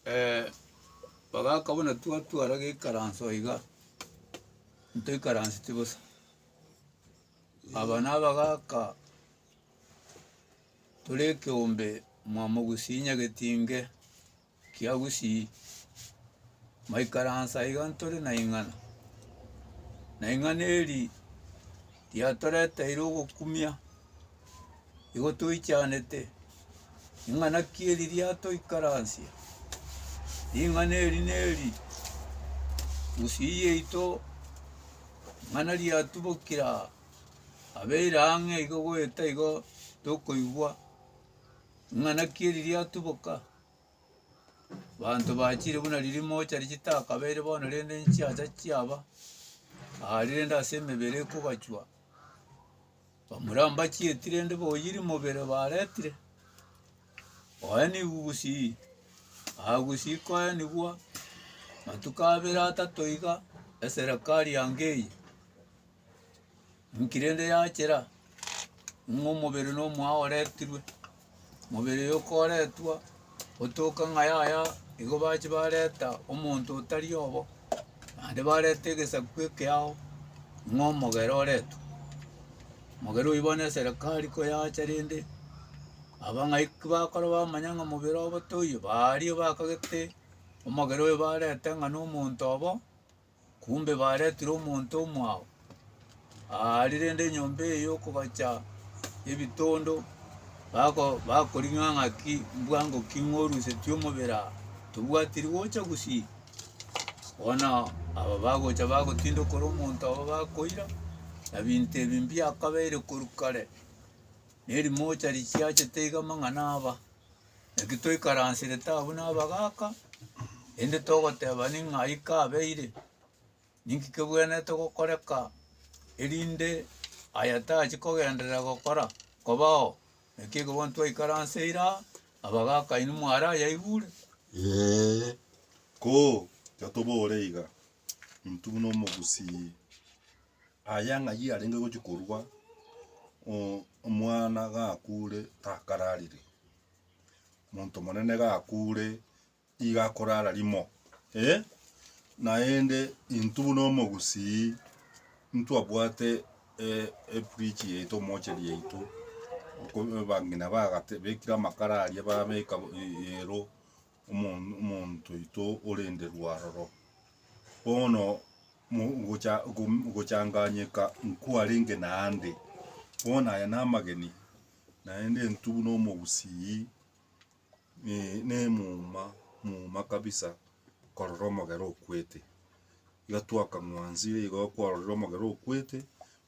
Ee, bagaka buna twatwara geikaranso iga, ntoikaranseti bosa. Aba nabagaka tore ekeombe omwamo gusii nyagetinge kia gusii, maikaransa iga ntore na ing'ana, na ing'ana eri riatoreteire ogokumia. Igo toichanete ring'ana ki eri riatoikaransia, ring'ana eri neri Gusii yaito, ring'ana riatubokire aa, abeire ang'e igo goeta igo tokoigwa ring'ana ki eri riatuboka, banto bachire buna riria rimocha richitakabeire bono rende nchiacha chiaba, aa rende ase emebere ekogachwa. Bamorambacheti rende boyiri mobere baretire oenigwe gusii aa gusii koenigwa matuko abere atato iga eserekari yange eye inki rende yachera ng'a omobere nomwao oretirwe Mobere oyo okoretwa otoka ng'a yaya, igo bache bareta omonto otari obo, naende bareta egesaku ekeao ng'a omogera oretwe. Omogera oyio bono eserekari ko yacha rende, abang'aiki bakora bamanya ng'a mobere obo toiyo, baaria bakagete omogera oyo bareta ng'a nomonto obo. Kumbe baretire omonto omwao aa rirende enyomba eye yokobacha ebitondo bako bakoring'a ng'aki mbwa ngoki ng'orusetie omobere aa tobwati rigocha gusii bono aba bagocha bagotinda okoro omonto aba bakoira na binto ebi mbiakabeire korwa kare na erimocha richiachete iga amang'ana aba. Naki toikaransirete abwo nabagaaka, erinde togoteba ning'ai kabeire, ninki kebwenerete gokoreka, erinde aya tachi kogenderera gokora kobao. Naki ekero bono twaikaranseire aa, abagaaka inwe mwarayaigure. Ee, ko, totobore iga, intwe buna Omogusii. Aya ng'ayio arenge gochia korwa omwana gakure takararire, monto monene gakure nigo akorara rimo naende intwe buna omogusii ntwabwate efridge yaito omocheri yaito abang'ina bagatebekire amakara aria babeka iyero. omonto oito orende rwaroro, bono gochanganyeka nkwarenge naende, bono aya namageni naende entubu na omogusii na emuma muma kabisa korora omogere okwete. Iga twakang'wansire igo kwarorire omogere okwete,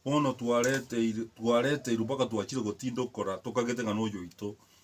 bono twareteirwe mpaka twachire gotinda okora tokagete ng'a noyo oito.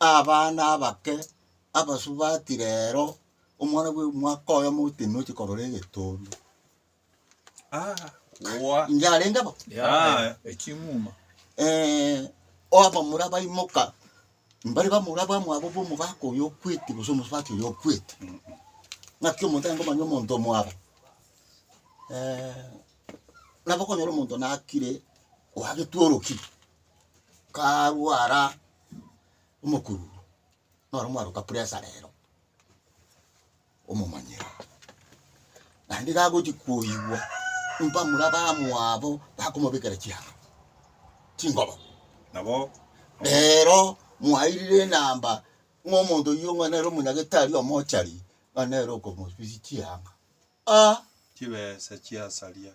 abana abake abasubati rero, omwana bwe omwaka oyo omotino oche korora egetundu. Yarenge bo? Yaya. Eking'uma. abamura baimoka, mbari bamura bamwabo bwa omogaka oyo okwete gose omosubati oyo okwete. Naki omonto aye ngomanye omonto omwabo, nabo okonyora omonto nakire oagetwa orokiri. karwara omokuru noro mwaruka pressure rero omomanyere naende gagochi koigwa ompa mura abamwabo bakomobekera chianga chingobo nabo rero mwairire enamba ng'a omonto oyio ng'a nere omonyagetari omochari ng'a nere okomosusi chianga ah. chibesa chiasaria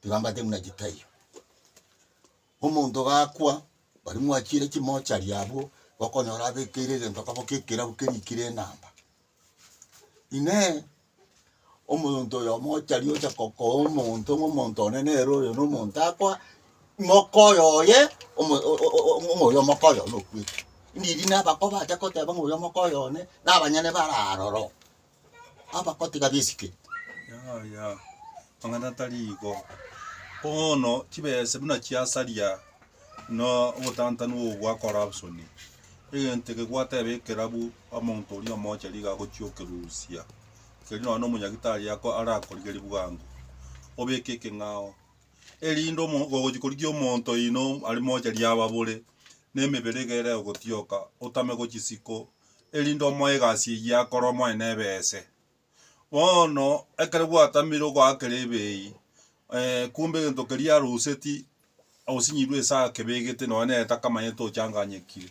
Tiga mbate buna chitaiyo. Omonto gakwa, baria mwachiire chimochari abwo, okonyora abekeire egento koba gie ekerabu kerikire enamba. Inee! Omonto oyo mochari ocha kokoa omonto ng'a omonto one nere oyo na omonto akoa, mokoyo oye omo- o- o- o- ng'a oyo omokoyo one okwete. Ndiri nabakoba acha koteba ng'a oyo omokoyo one, na abanyene bare aroro. abagotiga bisike. Yaya, amang'ana tari igo. Bono chibese buna chiasaria na obotantanu obo bwa corruption, egento eke gwateba ekerabu omonto oria omoche nigo agochia okerusia, kerio nonya na omonyagitari ako arakorigerie bwango obeke ekeng'ao, erinde omo ogochia korigia omonto oino are moche riaba bore na emebere iga ere egotioka otame gochisiko erinde omoe egasi eyio akore omonene ebe ese. Bono ekero gwatamire ogoakera ebei, kumbe egento keria aroseti osinyirwe ase akebegete nonye nere takamanyete ochanganyekire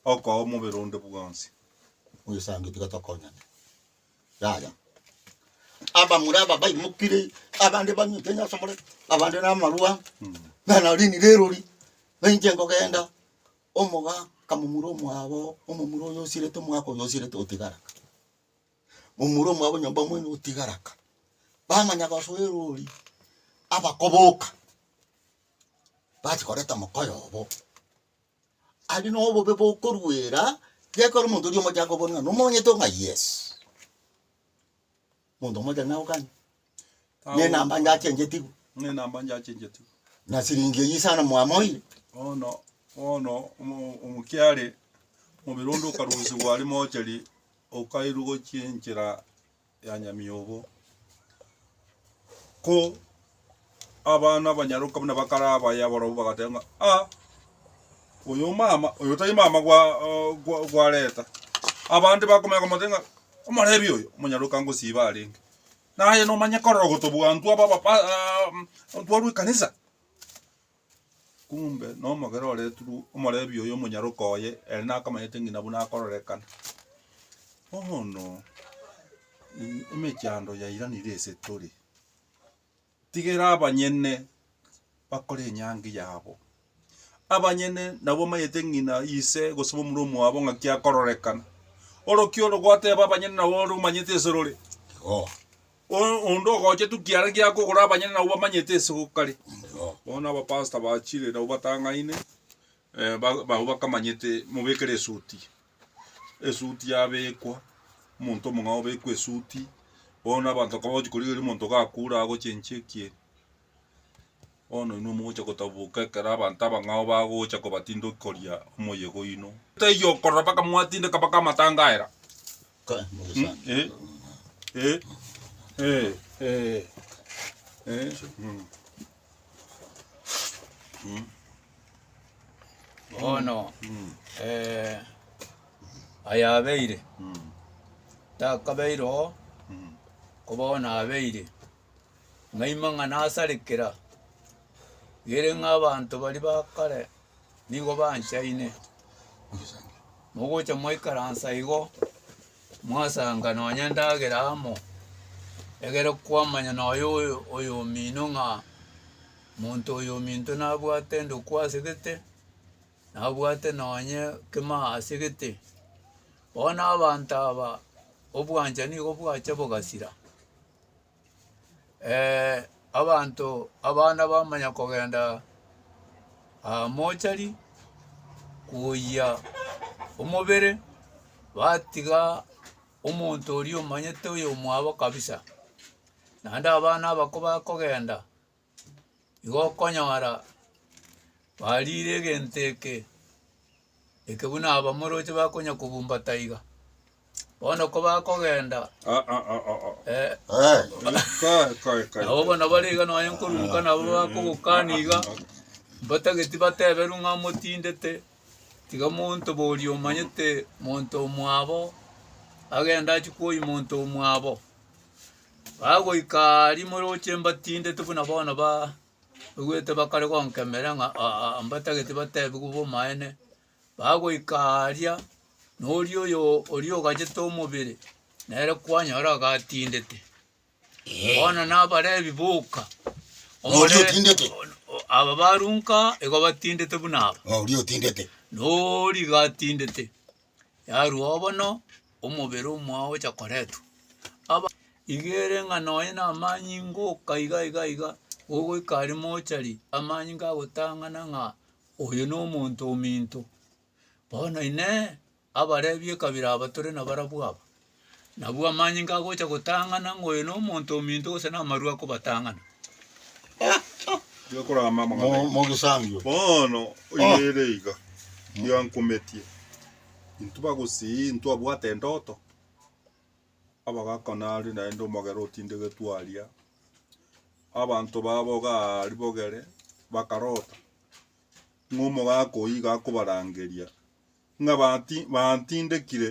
okoa omobere onde bwonsi. Oyesange tiga tokonyane. Yaya. Abamura aba baimokire abande banyete onye asomore abande namarwa, nana rindi rerori bainche kogenda. Omoga akamomura omwabo, omomura oyo osirete omwaka oyo osirete otigara ka. Momura omwabo nyomba mwene otigara ka. Bamanya gosoa erori, abakoboka, bachi koreta mokoyo obo. Aria nobobe bokoruera, gekero omonto oria omochanga obone ng'a nomonyete ong'a yes. Monto omochenu nao kanye? Nenamba njachengetigwe. Nenamba njachengetigwe. Na siringi eyio isano mwamoire? Bono, bono omokiare omobere onde okarusigwa are mocheri, okairwa gochia enchera ya nyamiyogo. Ko. Abana abanyaroka buna bakare abaye abarabwo bagateba ng'a, Ah, oyo omama, oyo tari mama gwa, gwa, gwa Reta. Abande bakomanya komotebia ng'a, Omorebi oyo, omonyaroka ngosiiba arenge. Naye nomanye korora gotobua intwe aba, aba, pa, a, ntwarwe ekanisa. Kumbe nomogera oretirwe omorebi oyo omonyaroka oye, ere nakamanyete ng'ina buna akororekana. Bono, emechando yairanire ase tore. Tigera abanyene bakore enyangi yabo. Abanyene nabwo bamanyete ng'ina ise gose omomura omwabo ng'aki akororekana. Orokia oro gwateba abanyene nabo ore omanyete ase rore Igo. O- onde ogochetu kiara giakogora abanyene nabo bamanyete ase gokari. Igo. Bono abapastor bachire nabo batang'aine Barabwo bakamanyete mobekere esuti, esuti yabekwa, omonto omong'ao obekwa esuti, bono abanto bakaba bagochia korigereria omonto gakure agochenchia ekiya ekiya. Bono inwe mogocha gotaboboka ekero abanto abang'ao bagocha kobatindokia koria omoyega oino. Taiyo okorora mpaka mwatindeka mpaka amatangaera. Mm. Bono Mm. eh, ayabeire Mm. takabeire oo Mm. ko bono abeire ng'aima ng'a nasarekera gere ng'a abanto baria ba kare nigo banchaine mogocha mwaikaransa igo Mwasaanga nonya endagera amo, egere kwamanya noyo oyomino ng'a monto oyominto nabwate endokwa ase gete, nabwate nonye kemaa ase gete. Bono abanto aba obwanchani nigo bwacha bogasira. Ee, abanto abana bamanya kogenda aa mochari koyia omobere, batiga omonto oria omanyete oyomwabo kabisa. Naende abana abako bakogenda. Igo okonyora bariire egento eke, eke buna abamoroche bakonya kobumba taiga, bono kobakogenda eh, nabo bono bare iga nonye nkoruruka nabo bakogokana iga mbatageti bateberwe ng'a motindete tiga monto boria omanyete monto omwabo agende achie koyi monto omwabo. Bagoika aria moroche mbatindete buna bono baigwete bakare gonkemera ng'a aa mbatagete batebigwe bomaene. Bagoika aria noria oyo oria ogachete omobere nere kwanyora gatindete. Bono nabarebi boka. Noria Omore- otindete. o- Aba barunka igo batindete buna aba. Noria otindete. Nori gatindete. yarwao bono omobere omwao ogocha koretwa aba iga ere ng'a nonya na amanyinga oka iga iga iga ogoika aria mochari amanyinga agotang'ana ng'a oyo na omonto ominto bono inee abarebi ekabira aba tore nabarabwo aba. Nabwo amanyinga agocha gotang'ana ng'a oyo nomonto ominto gose namarue akobatang'ana. Gekorama amang'ana Mo- aino. Mogisangio. Bono oyo Oh. ere iga giankumetie intwe bagusii intwe abwate endoto abagaka nari naende omogera otindegetwe aria abanto baboga aari bogere bakarota ng'a omogaka oyio iga akobarangeria ng'a bati- bantindekire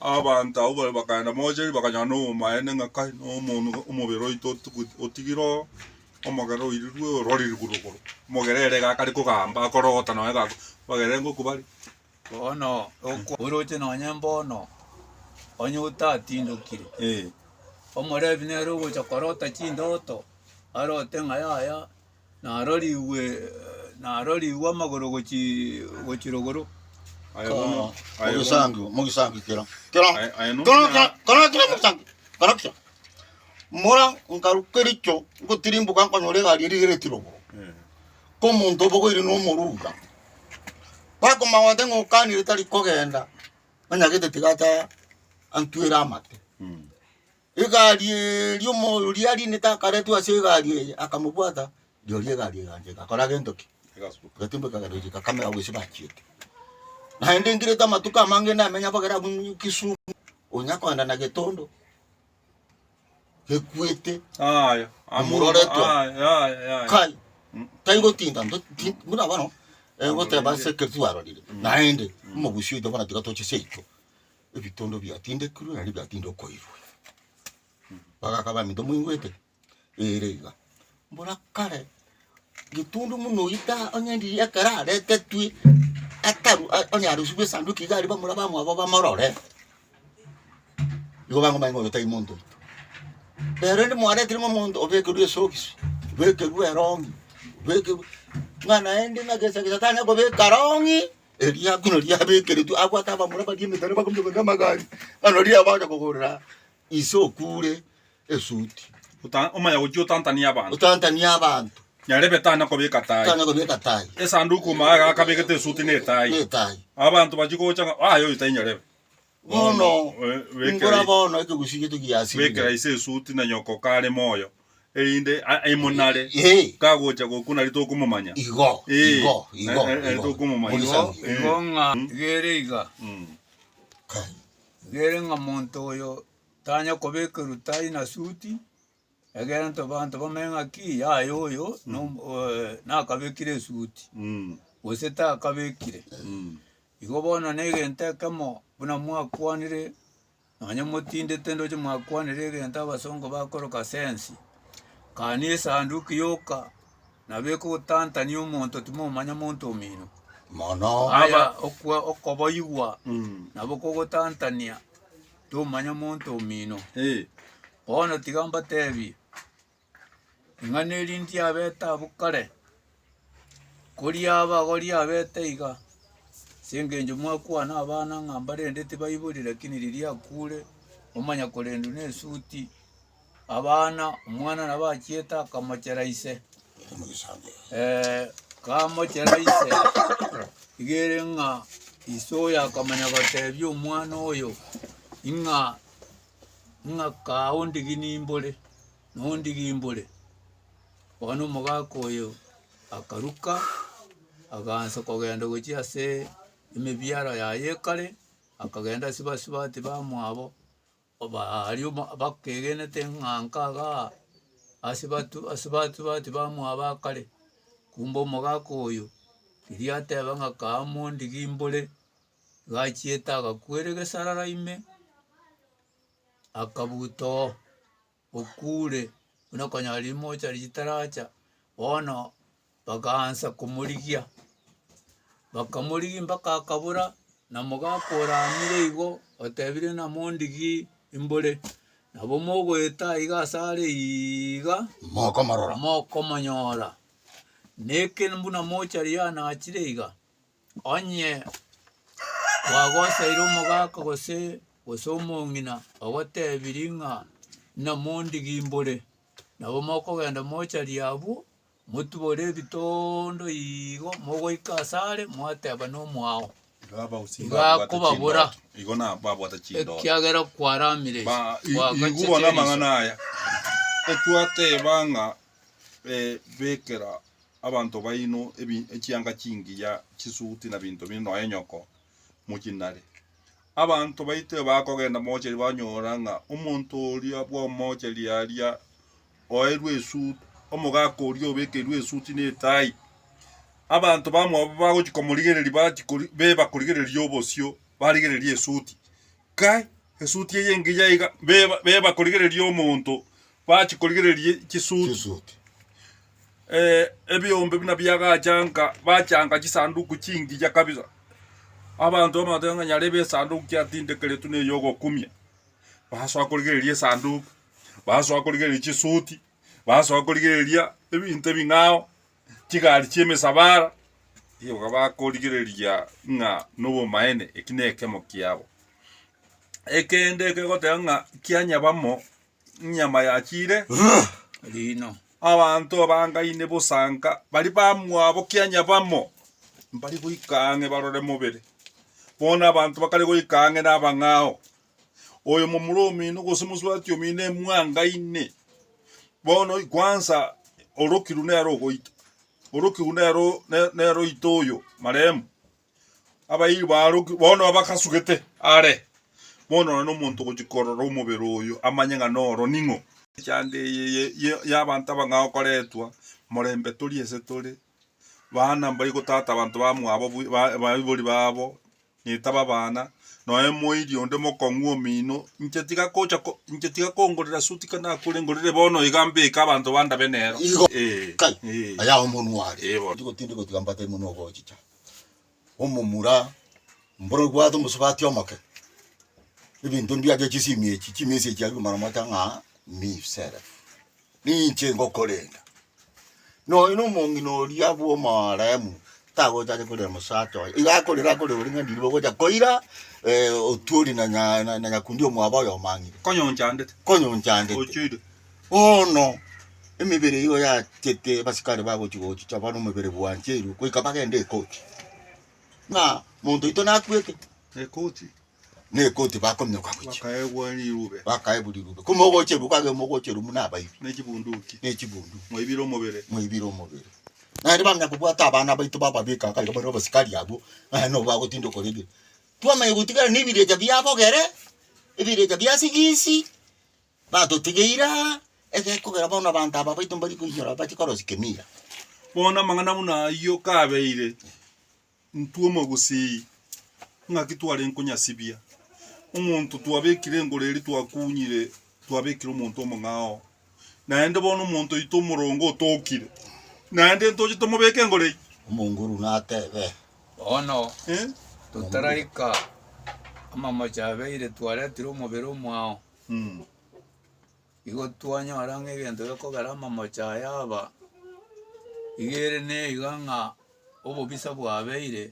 Abanto abwo baria bakaenda mocheri, bakanyora nobomaene ng'a kai, nomonwe, omobere oito otugu otigire oo, omogere oirirwe ororire korwa igoro. Omogere ere iga akare kogamba, akorogota nonye iga ako, bagere ngoku bare. Bono okwa oroche nonye mbono, onye otatindokire, Ee. omorebi nere ogocha korota chindoto, arote ng'a yaya, narorigwe narorigwe amagoro gochi gochi rogoro. Aye Ka- bono, aye bono, Mogisangi, mogisangi kero. Kero, Aye- aye no kero, muna- kero, kero, kero, mogisangi. Kero kio. Mora nkaru kericho ngotirimboka nkonyora egari erigereti rogoro. Eh, Ko omonto obogoire no omoruga. Bakoma gote ng'a okanire tari kogenda. Onyagete tiga ata antwere amate. mm. Egari eria omoyo oria arinete akaretwa ase egari eye akamobwata, rirorio egari egancha egakora gento ki? Egatumbeka egari eria egakamera gose bachiete. Naende ngirete amatuko amange namenya abagere abwo Kisumu, onya kogenda na getondo gekwete amuroretwe kai taigotinda buna bono egoteba ase ekero twarorire naende omogusi oito bono tiga toche seito. ebitondo biatindekirwe naende biatinde okoirwa. Bagaka baminto moigwete? Ere iga. Mbora kare getundu buna oyio ta onye ndiye ekero aretetwe ataru a- onye arosiwu esanduki iga aria bamura bamwabo bamorore, igo bang'omanya ng'a oyo tai monto oito. Rero rende mwaretire ng'a omonto obekerwe esokisi, obekerwe erongi, obekerwe ng'a naende ng'a gesa gesa tanyare kobeka rongi Eriaku nariabekeretwe agwo ase abamura baria emetara bakominyoka namagari, naro riria bagocha kogorera ise okure esuti. Ota- omaya gochia otantanie abanto Otantanie abanto, nyarebe tana kobeka tai tana kobeka tai, esanduku magega akabegete esuti na etai na etai. abanto bachia gocha ng'a aye oyo tainyarebe Bono ingora bono ekegusii gete giasirire. Bekera ise esuti na nyoko kare moyo, erinde aimonare kagocha gokwa nari tokomomanya. Igo, igo, igo, nari tokomomanya. Igo, igo ng'a gere iga. Gere ng'a monto oyo tanya kobekerwa tai na suti. Egento banto bamenye ng'a ki yaya oyo nom- eh, nakabekire esuti Mm. gose takabekire. Mm. Igo bono na egento ekemo buna mwakwanire nonye motindete ndoche mwakwanire egento abasongo bakoroka sense, kani esanduki yoka nabo ekogotantania omonto timomanya monto omino. Mono. Aya okwa- okoboigwa Mm. nabo kogotantania tomanya monto omino. Bono tiga mbatebie, ing'ana eria ndiabete abwo kare, kori abagori abete iga, ase eng'encho mwakwana abana ng'a mbarende tibaiborire, lakini riria akure, omanya korendwa nesuti. Abana, omwana nabo achiete akamochera ise. Eh, kamochera ise igere ng'a ise oyo akamanya gotebia omwana oyo ing'a ing'a kaa ondigi nimbore nondigi mbore bono omogaka oyo akaruka agaansa kogenda gochia ase emebiara yaye ekare akagenda ase basubati bamwabo Baria bakegenete ng'a nkaga ase asebati bamwabo akare, kumbe omogaka oyo riria ateba ng'a kaa mondigi mbore, igo achiete agakwera egesarara ime akabuta oo. okure, buna okonyora rimocha riria ritaracha, bono bagaansa komorigia, bakamorigia mpaka akabora, na omogaka ore amire igo otebire ng'a mondigie imbore, nabo mogoeta iga ase are iiga mokomorora, mokomonyora, na ekero buna mochari yanachire iga. Onye kwagosaire omogaka gose gose omong'ina ogotebirie ng'a namondigimbore, nabo mokogenda mocharia abwo, motubore ebitondo igo mogoika ase are mwateba nomwao, igo akobabora, ekiagera kwaramire ase twagachetie riso. abanto baino echianga chingiya chisuti na binto binde nonya nyoko mochinare. Abanto baito ebakogenda mochari banyora ng'a omonto oria bw'omochari aria oeirwe esuti, omogaka oria obekeirwe esuti ne etai. Abanto bamwabo bagochia komorigereria bachia beba korigereria obosio barigereria esuti. Kai esuti eye engiya iga, beba- beba korigereria omonto, bachia korigereria chisuti chisuti eh, ebiombe buna biagachanka bachanga chisanduku chingiya kabisa abanto bamateba ng'a nyarebe esanduku kiatindekeretwe ne yogokumia basoa korigereria esanduku basoa korigereria chisuti basoa korigereria ebinto ebing'ao chigari chi'emesabaara, nigo bakorigereria ng'a nobomaene eki nekemo kiabo. Ekende ekegoteba ng'a kia nyabamo nyama ya chire riino, abanto abangaine bosanka bari bamwabo kia nyabamo mbari goika ang'e barore mobere, bono abanto bakare goika ang'e nabang'ao. oyo momura omino, gose mosubati omino emwangaine, bono kwansa orokirwe nere ogoita, orokirwe nere o- ne- nere oito oyo marehemu, abairi baroki bono abakasugete are, bono nonye na omonto ogochi korora omobere oyo amanye ng'a noro ning'o. Ekeango eye ye- ye- y'abanto abang'ao okoretwa morembe toria ase tore. Baana mbaigo tata abanto bamwabo baibori babo netabe abana noe moiri onde mokong'u omino inche tiga gocha inche tiga kongorera suit ka nakure ngorere bono iga mbeke abanto bandabe nero. Igo, kai, aya omonwa are, tindi gotinda gotiga mbate omonwa ogochicha. omomura, mboro bwate omosubati omoke, ebinto ebi biacha chisimi echi chimisi echi aria omara mote ng'a misere. Ninche ngokorenda. Nonya na omong'ina oria bwa omooremu tagochacha korera omosacha oye, iga akorera akore ore ng'a ndiri bogocha koira otwori na nya na nyakundi omwabo oye omang'ina. Konyoncha ndete. Konyoncha ndete. Ochoire. Bono emebere eyio yachete abasikari bagochia gochicha bono omobere bwancheirwe goika bagende ekoti, ng'a monto oito nakwete na ekoti bakominyoka gochia bakaebwa rirube ko mogocherwa kage mogocherwa buna abaibi ne chibunduki mwaibire omobere. Naende bamanya kobwata abana baito bababeka iga bare abasikari abwo naende nabo bagotinda okora ebibe. Twamanya gotigara na ebirecha biabogere, ebirecha bia sigisi. Batotigeire aa, ekiagera kogera bono abanto aba baito mbari koiyora bache korosia kemira. Bono amang'ana buna ayio kabeire, intwe omogusii, ng'aki twarenge konyasibia? Omonto twabekire engoro eria twakunyire, twabekire omonto omong'ao. Naende bono omonto oito omoronge otokire, naende ntoche tomobeke engoro eyio? Omonguru natebe, Bono Eh? totaraika amamocho abeire twaretire omobere omwao. Igo twanyora ng'a egento gekogera amamocho aya aba iga ere neiga ng'a obobisa bwabeire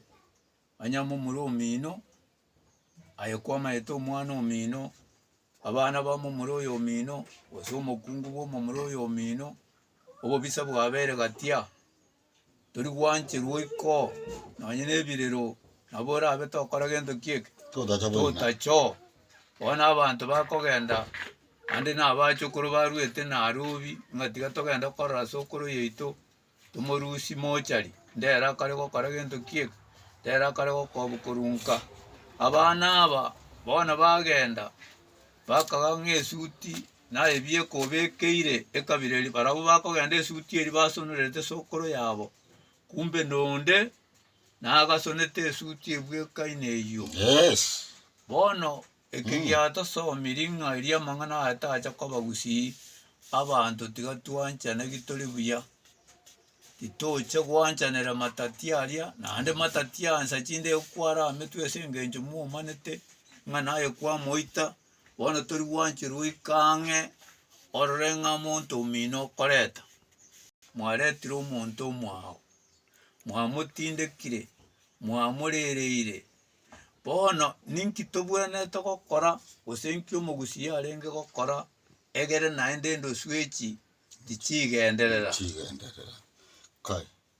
onye momura omino aye kwamaete omwana omino, abana ba momura oyo omino gose omokungu bwa omomura oyo omino, obobisa bwabeire gatia. Tori gwancherwa oiko, nonye nebirero, nabo orabe tokora gento kieke, totacho. Bono abanto bakogenda, naende na abachokoro baruete Nairobi, ng'a tiga togende korora sokoro yaito, tomorusi mochari, ndere akare gokora gento kieke, ndere akare gokobu korunka. Abana aba bono bagenda, bakaga ng'a esuti. na ebieka obekeire ekabira eria, barabwo bakogenda esuti eria basonerete sokoro yabo, kumbe nonde nagasonete esuti ebwekaine eyio. Bono eke giatosomirie ng'a erio amang'ana aya tacha koba gusii. Abanto tiga twanchane ki tore buya, titoche gwanchanera matati aria, naende matati aya nsa chinde ekwara ametwe ase engencho momanete ng'a naye kwamoita, Bono tori gwancha goika ang'e orore ng'a monto omino okoreta, mwaretire omonto omwao, mwamotindekire, mwamorereire, bono ninki tobwenerete gokora, gose nki omogusia arenge gokora egere naende endoswechi tichigenderera. Tichigenderera, kai.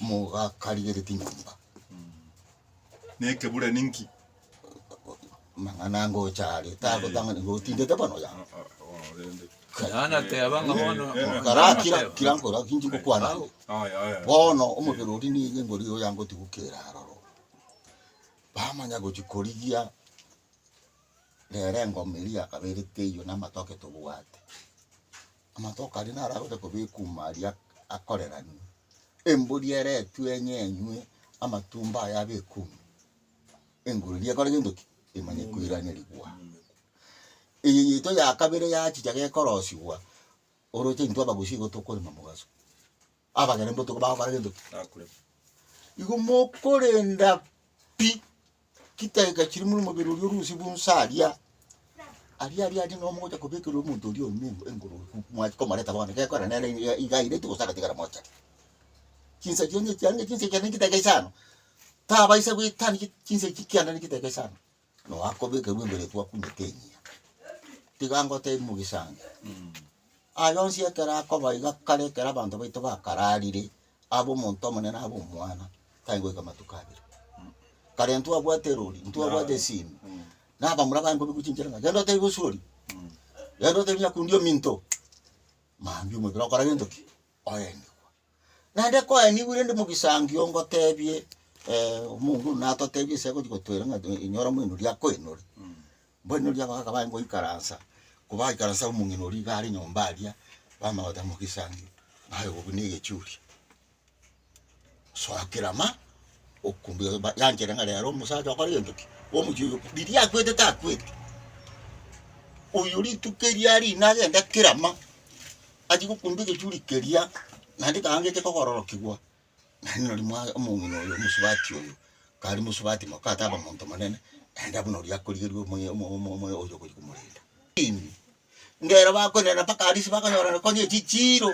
mogakarigereti nyomba. Nekebura ninki? Mang'ana ngocha are tagotang'ani gotindete bono ya. Yohana ateba ng'a bono Karakira kira nkora kinchi ngokwana ande. Aya aya. Bono omobere oria nigo ngori oyo yangotigukera aroro. Bamanya gochi korigia nere engoma eria yakaberete eyio namatoke tobwate. Amatoke aria naro agocha kobekwa ime aria akoreranwe, embori eretwe eng'enywe, amatumbo aye abekwe ime, enguru eria ekore gento ki? Emanye koiranerigwa. Eye yaito ya kabere yachicha gekorosigwa, oroche intwe abagusi igo tokorema mogaso. Abagere mbotuko bagokora gento ki? Bakure. Igo mokorenda pi chidakika chiria buna omobere oria orusie bonsa aria, aria aria aria nabo mogocha kobekerera omonto oria orimo engo- engoro fu- mwancha komoreta bono gekora nere iga- iga aireti gose agatigara mocha. Chinsa chiane echi, aria chinsa echi chiane chidakika isano, tabaisa goetania chi- chinsa echi kianda ne chidakika isano. Noakobekerwa ebere twakumete enyia. Tiga ngotebi mogisangi, aye onsi ekero akoba iga kare ekero abanto baito bakararire, abe omonto omonene abe omwana, tari goika amatuko abere. Kare ntwabwate erori, ntwabwate esimi, na abamura baye nkobigochinchera ng'a genda otebi bosuori, genda otebi nyakundi ominto, mambia omobere okora gento ki? oenigwa. Naende koenigwe rende mogisangio ngotebie omong'u natotebie ase agochi gotoira ng'a inyora moinoro akoinore. Mboinoro abo bakaba baye ngoikaransa, kobaikaransa omong'ina oria iga are nyomba aria, bamanya goteba mogisangio, naye obobe na egechuria. gosoa kera ama, okumbuya oyo ba- yanchere ng'a rero omosacha okore gento ki, omochie oyo riria akwete takweti, oyo rituko erio aria ina agende kera ama, achie gokumba egechuri keria, naende ekanga gecha kogororokigwa, naende nari mwa omong'ina oyo omosubati oyo, kare mosubati moka ataba monto monene, naende abwo nari akorigereria omoyo omo omo omo oyo ogochi komorenta. Ng'a ere bakoirana mpaka aria ase bakonyorana konya echichiiro.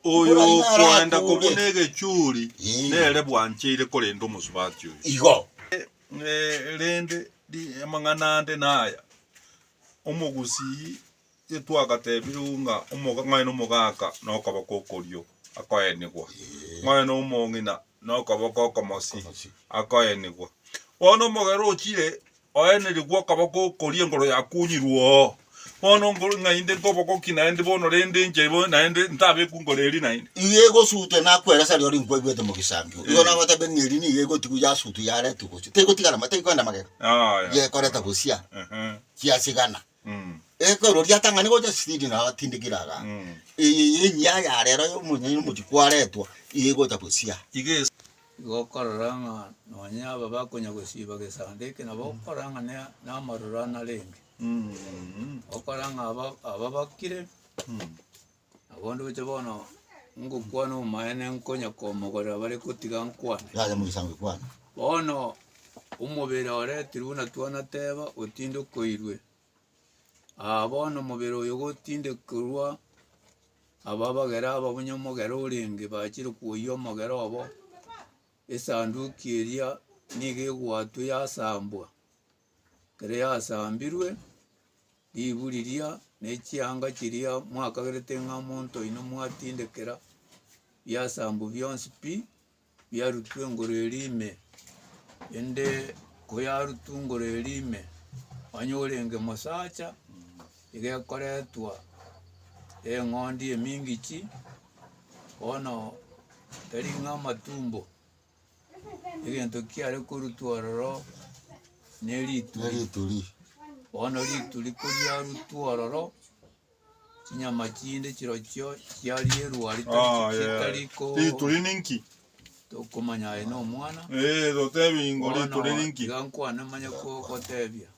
Oyo Buna nigo ara okoenda atore. kobuna egechuri Ee. nere bwancheire korenda omosubati oyo. Igo. Eh, rende ri- amang'ana ande naya, omogusii getwagatebiregwe ng'a omoga ng'oe nomogaka nokoboko okorio akoenigwa, ng'oe nomong'ina nokoboko okomosi Okomosi. akoenigwa. Bono omogera ochire Oenirigwe okaba gokoria engoro ya kunyirwa oo. Bono ngoro naende nkobogoki naende bono rende inche bono naende ntabekwa ngoro eria naende. Iga egosutwe nakwera sari ore nkwaigwete mogisambio. Igo nagotebi ng'a eria nigo egotigwa yasutwa yaretwe gochia. Tegotigara ma tegoenda magega. Aya. Gekoreta gosia. Ehe. Giasigana. Ekero riatang'ani gocha sipidi na atindekire iga, eye yenyia ya rero ya omonyene omochie kwaretwa, eye egocha gosia. Iga ase. Igo okorora ng'a nonye aba bakonya gosiba gesande eke nabo okorora ng'a ne namaroro anarenge, okora ng'a aba aba bakire. Nabo ndoche bono ngokwana omoene nkonya komogorera bare gotiga nkwane. Yaye mogisango ekwana. Bono omobere ore tiri buna twanateba otindokoirwe. Aa bono omobere oyo gotindekorwa aba abagere aba buna omogere orenge bachire koyia omogere obo esanduki eria nigo egwatwa yasambwa. Riasambirwe ribu riria ne chianga chiria mwakagerete ng'a monto oino mwatindekera, biasambu bionsi pi, biarutwa engoro eria ime, ende koyarutwa engoro eria ime, onye orenge mosacha, iga ekoretwa eng'ondi emingichi, bono tari ng'a amatumbo. egento kiare korutwa ororo nerituri, nerituri bono rituri koriarutwa ororo chinyama chinde chirochio chiarierwa rita Oh, yeah. chitari ko Rituri ninki? tokomanya aye na omwana Eh, totebi ingo rituri ninki? iga nkwane manye ko- gotebia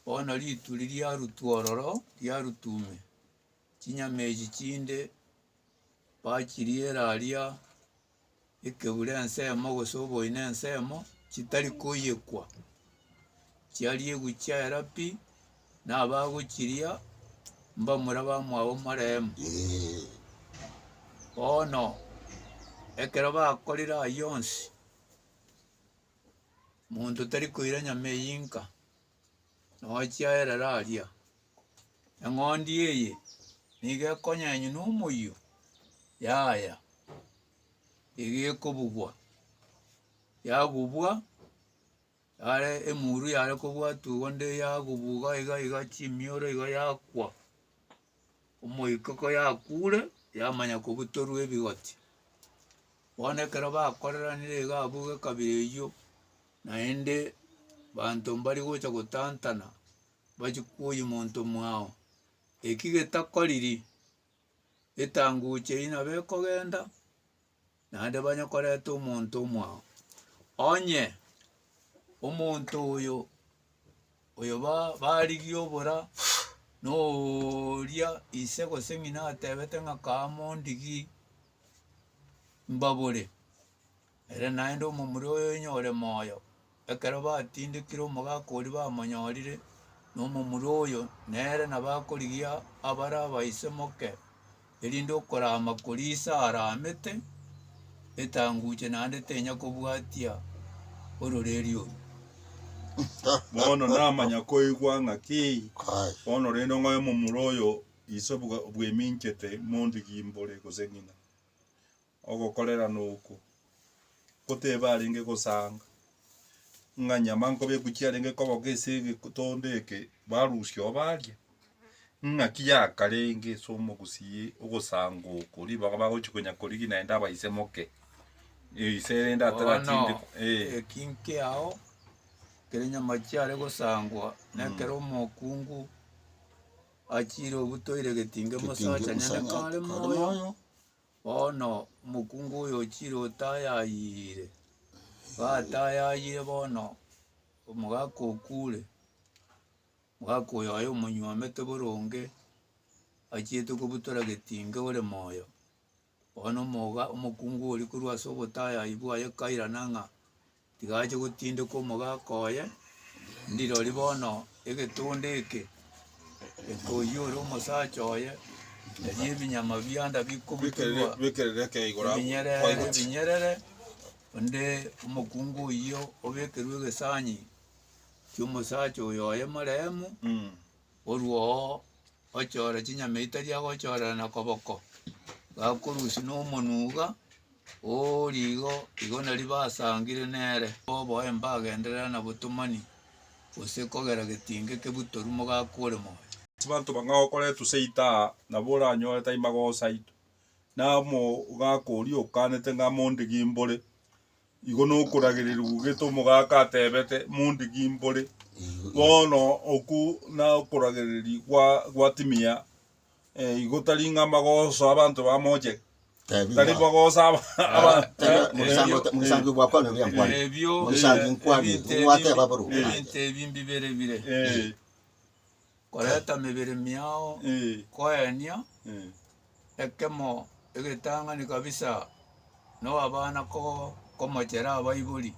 bono rituri riarutwa ororo riarutwa ime chinyama echi chinde bachiriera aria Ekeure ensemo gose oboina ensemo chitari koyekwa, chiariegwe chiaera pi, na abagochiria mbamure abamwabo omoreemo. Bono ekero bakorire ayio onsi, monto tari koira nyama eyio inka. nochia erere aria, eng'ondi eye nigo ekonyenywa na omoyio yaya iga ekobugwa, yagubwa yare emuru yare kobwatwa igo nde yagubwa iga iga iga chimioro iga yakwa, omoika ko yakure yamanya kobutorwa ebigoti, bono ekero bakoreranire iga abwo gekabira eywo naende banto mbari gocha gotantana bachie koyia monto mwao eki getakoriri etanguche eye nabo ekogenda naende banye koreta omonto omwao onye omonto oyo oyo ba barigia obora noooria ise gose ng'ina atebete ng'a kaa mondigii mbabore. Ere naende omomura oyo oinye ore moyo. Ekero batindekire omogaka oria bamonyorire nomomura oyo, nere nabakorigia abare abaise moke, erinde okoraama koria Isa araamete, etanguche naende tenya kobwatia ororeria oru. Bono namanya koigwa ng'a ki bono rende ng'oe momura oyo ise bweminchete monto gimbore gose ng'ina. Ogokorerana okwo ko tebe arenge gosanga ng'a nyama nkobe eko chiarenge koboka ase egetondo eke barusia oo baria, ng'aki yakarenge ase omogusii ogosanga oko ribaga bagochi konya korigia naende abaise moke ise erende atarachinde eh. Eki nkiao ekero nyama chiare gosangwa na ekero omokungu achire obutoire getinge mosaacha nyene kare moyo. Bono omokungu oyochire otayayire, batayayire bono omogaka okure, omogaka oyo aye omonywomete boronge, achiete kobutora getinge ore moyo. Bono omoga- omokungu oria korwa ase obotayayi bwaye kairana ng'a Tiga ache gotindeka omogaka oye, ndirori bono egetonda eke ekoiyora omosacha oye, erio ebinyama bianda bikobutorwa ebinyerere ebinyerere, onde omokungu oyio obekerwe egesanyi ki'omosacha oyo oye moremu, orwo oo gochoora chinyama etari agochoorerana koboko, gakorusia na omonwa iga, oooria igo, igo nari basangire nere. Oboe mbagenderera na botomani, gose kogera getinga eke butoru mogaka ore moyo. Chibanto bang'ai okoretwe seito aa, nabo oranyore tai magosaito, na omogaka oria okanete ng'a mondigimbore. Igo nokoragereria gogeta omogaka atebete, Mondiki mbore? Bono oku nokoragereria gwa gwatimia, eh, igo tari ng'a magoso abanto bamoche, Tebia tari bwa- magoso aba- Ara- aba- tebia, eh, mogisangio- ebio- mogisangio gwakwane oria nkwane. Ebio Mogisangio nkwane, ebinto ebio- wateba buru. ebinto ebi mbibere bire. eh, Koreta mibere miao koenia ekemo egetang'ani kabisa nowabana komochera abaibori,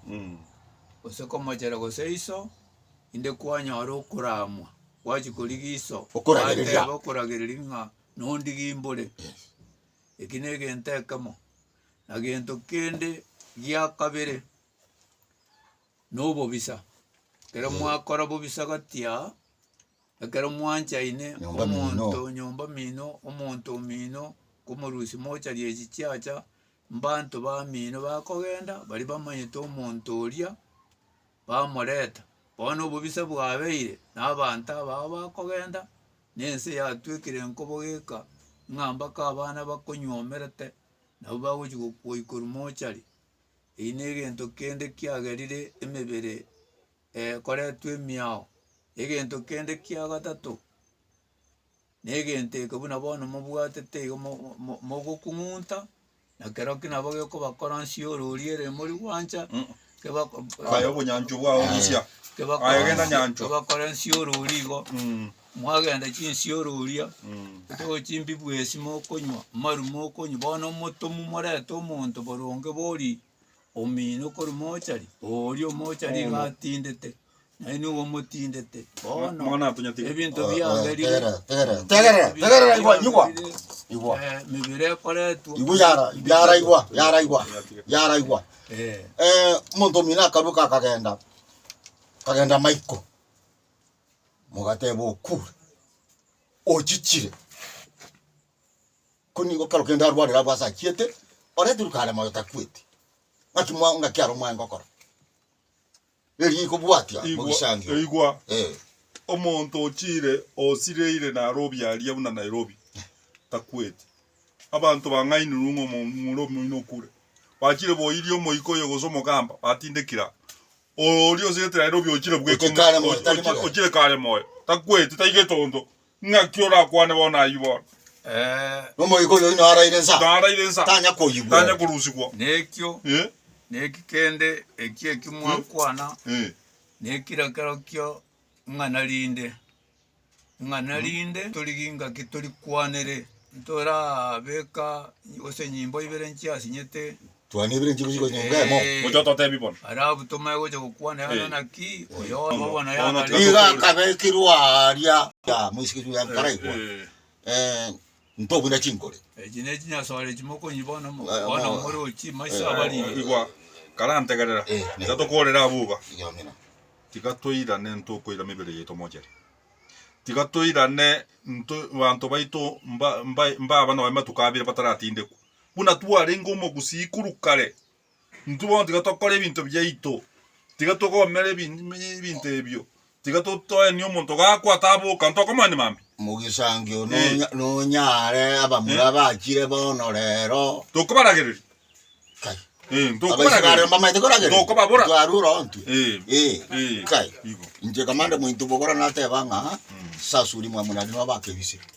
gose komochera gose iso, inde kwanyora okoramwa gwachia korigia iso gwateba okoragereria ng'a nondigie imbore. Eki negento ekemo. Na gento kende giakabere. nobobisa, ekero mwakora bobisa gati aa, ekero mwanchaine Nyomba mino. omonto nyomba mino, omonto omino, komorusia mocha riechi chiacha, mbanto bamino bakogenda baria bamanyete omonto oria, bamoreta. Bono obobisa bwabeire na abanto abao bakogenda, na ense yatuekire nkobogeka, ng'a mbaka abana bakonywomerte, nabo bagochi go- goikorwa mochari. Eyio negento kende kiagerire emebere ekoretwe emiao. Egento kende kia gatato, negento eke buna bono mobwatete igo mogokung'unta, na keroki nabo gekobakoransia orori ere mori gwancha, Aye obonyanchwa bwao buya, aye genda nyanchwa. kebakoransie orori igo, Mwagenda chinsiororia, motogwe chimbibwesi mokonywa, amaru mokonywa, bono omotomwa morete omonto boronge bori omino okorwa mochari, oria omochari iga atindete, naye nigo omotindete, bono Mwana atonyatigwe. ebinto biaberire Tegera, tegera, tegera, tegera, igwa, igwa, igwa. eh, mibere ekoretwa Igwa yara, yara igwa, yara igwa, yara igwa. Eh, Eh, omonto omino akaruka akagenda, akagenda maiko. Mogateba, Okure, ochichire. Ko nigo kero kende arwarire abwo ase achiete, oreterwe kare moyo takweti. Ng'aki mwa ng'aki aro mwae ngokora. Erio ikobwatia Igwa, mogisangio. igwa, Eh. omonto ochire osireire naro obiaria buna Nairobi, takweti. Abanto bang'ainirwe ng'a omo- omura omoino okure. Bachire boiria omoika oyo gose omogamba, batindekire aa. Oria osigete naende obe ochire bweka ng'a Ochikare moyo, tari moyo. ochire kare moyo, takweti, taigete onto. Ng'aki orakwane bono ayio bono? Ee, Nomoika oyo oino araire nsa, Naraire nsa, tanya koyigwera. tanya korusigwa. nekio Eh, neki kende ekio ekio mwakwana eh. nekira kerokio ng'a narinde. ng'a narinde torigie ngaki torikwanere, ntorabeka gose nyimbo ibere nchiasinyete. Twane ibere nchibuchi gose nyomba emo. Ee. Gocha ototebi bono. Aria abutomae gocha gokwana yang'ana Eh. naki, oyo Bono- obo bono bono yang'ana tiga- Iga akabekirwa aaria ya moisiki Juu ya Mparaigwa. Eh, eh. Eh, Ntoo buna chinkore. Echi ne chinyasore echi mokonywa bono mo, Ng'a- bono mo- more ochie maiso abarire. Igwa, karantegerera, Eh, ne- tatokorera abwo iga. Iga amina. Tiga toirane ntokoira mibere yaito mochere. Tiga toirane nto banto baito mba mba mbaba noe matuko abere bataratindekwa. Buna twarenge omogusii korwa kare, Intwe bono tiga tokore ebinto biaito, tiga togomere ebinto ebio, tiga toenie omonto gakwa taboka, onto okomanya mambia? Mogisangio nonya nonyare abamura bachire bono rero. Tokobaragereria. Kai. Eh, ntokobaragereria. Abaisraeli mbamaete koragereria. Ntokobabora. Ntwarwa ora ontwe. Eh. Eh. Eh. Kai. Igo. Inche kamande mointo bogora nateba ng'a sasuri mwamuna nigo abakebise.